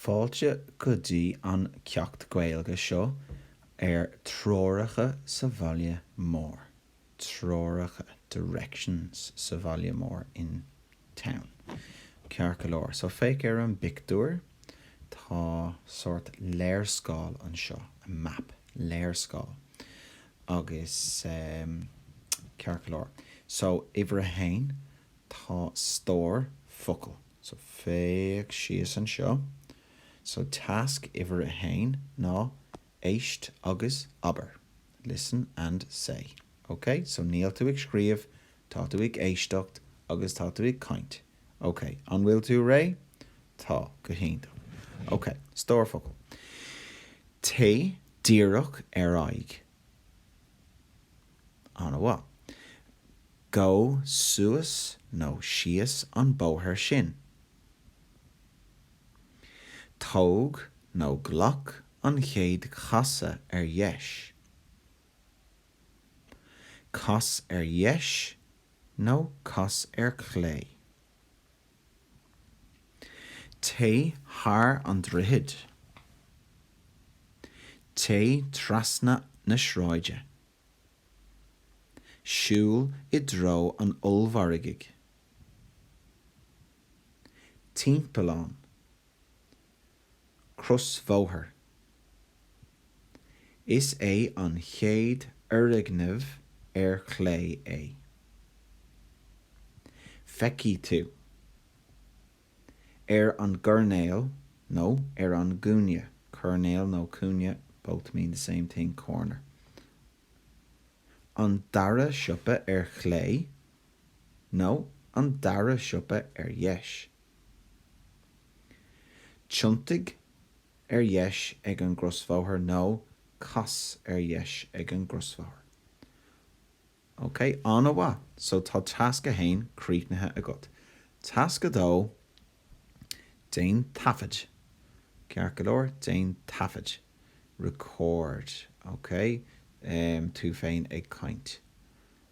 Fáilte go dtí an ceacht Gaeilge seo ar Treoracha sa Bhaile Mór, Treoracha, Directions, sa Bhaile Mór, in town. Ceart go leor, so féach ar an bpictiúr, tá sórt léarscáil anseo, a map, léarscáil. Agus, ceart go leor, so uimhir a haon, tá stór focal. So, féach síos anseo. So, tasc uimhir a haon ná éist agus abair. Listen and say. Ok? So, níl tú ag scríobh, tá tú ag éisteacht agus tá tú ag caint. Ok, an bhfuil tú réidh? Tá, go hiontach. Ok, stór focal. Téigh díreach ar aghaidh. An-mhaith. Gabh suas nó síos an bóthar sin. Tóg nó glac an chéad chasadh ar dheis. Cas ar dheis nó cas ar chlé. Téigh thar an droichead. Téigh trasna na sráide. Siúil i dtreo an ollmhargaidh. Timpeallán. Crosbhóthar. Is é an chéad fhoirgneamh ar chlé é. Feicfidh tú. Ar an gcoirnéal, nó ar an gcúinne, coirnéal nó cúinne, both mean the same thing, corner. An dara siopa ar chlé nó an dara siopa ar dheis. Tiontaigh ar dheis ag an gcrosbhóthar nó cas ar dheis ag an gcrosbhóthar. OK, an-mhaith. So tá tasc a haon críochnaithe agat. Tasc a dó, déan taifead. Ceart go leor, déan taifead. Record, OK. Tú féin ag caint.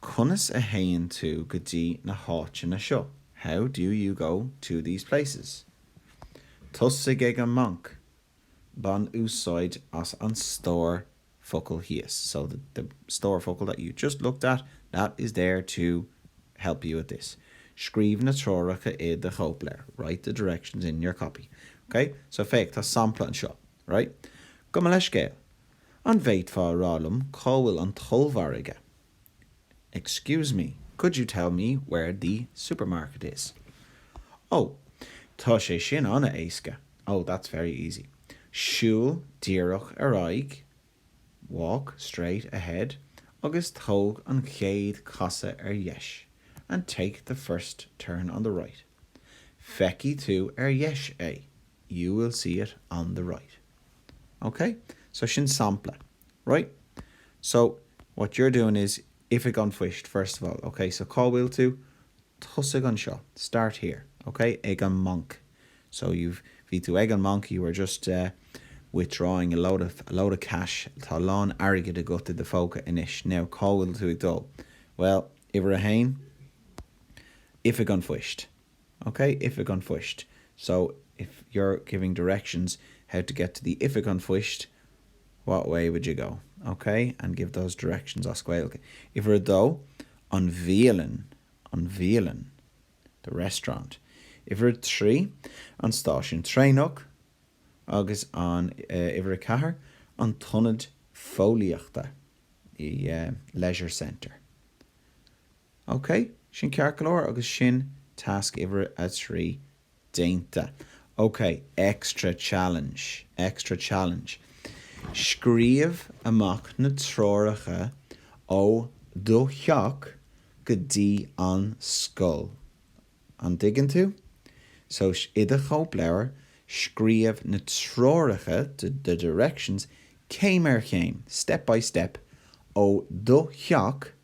Conas a théann tú go dtí na háiteanna seo? How do you go to these places? Tosaigh ag an mbanc. Bain úsáid as an stór focal thíos. So the, the stór focal that you just looked at, that is there to help you with this. Scríobh na treoracha i do chóipleabhar. Write the directions in your copy. Okay? So féach, tá sampla anseo. Right? Gabh mo leithscéal. An bhféadfá a rá liom cá bhfuil an t-ollmhargadh? Excuse me, could you tell me where the supermarket is? Ó, tá sé sin an-éasca. Oh, that's very easy. Siúil díreach ar aghaidh, walk straight ahead, agus tóg an chéad casadh ar dheis, and take the first turn on the right. Feicfidh tú ar dheis é. You will see it on the right. Ok? So sin sampla. Right? So, what you're doing is, Oifig an Phoist, first of all. Ok? So cá bhfuil tú? Tosaigh anseo. Start here. Ok? Ag an mbanc. So you've, bhí tú ag an mbanc, you were just eh withdrawing a load of, a load of cash. Tá a lán airgid agat i do phóca anois. Now, cá bhfuil tú ag dul? Bhuel, uimhir a haon, Oifig an Phoist. OK, Oifig an Phoist. So, if you're giving directions how to get to the Oifig an Phoist, what way would you go? OK, and give those directions as Gaeilge. Uimhir a dó, an bhialann, an bhialann, the restaurant. Uimhir a trí, an stáisiún traenach. Agus an uimhir a ceathair, an t-ionad fóillíochta, the leisure centre. Ok, sin ceart go leor agus sin tasc uimhir a trí déanta. Ok, extra challenge, extra challenge. Scríobh amach na treoracha ó do theach go dtí an scoil. An dtuigeann tú? So, i do chóipleabhar, scríobh na treoracha, the directions, céim ar chéim, step by step, ó do theach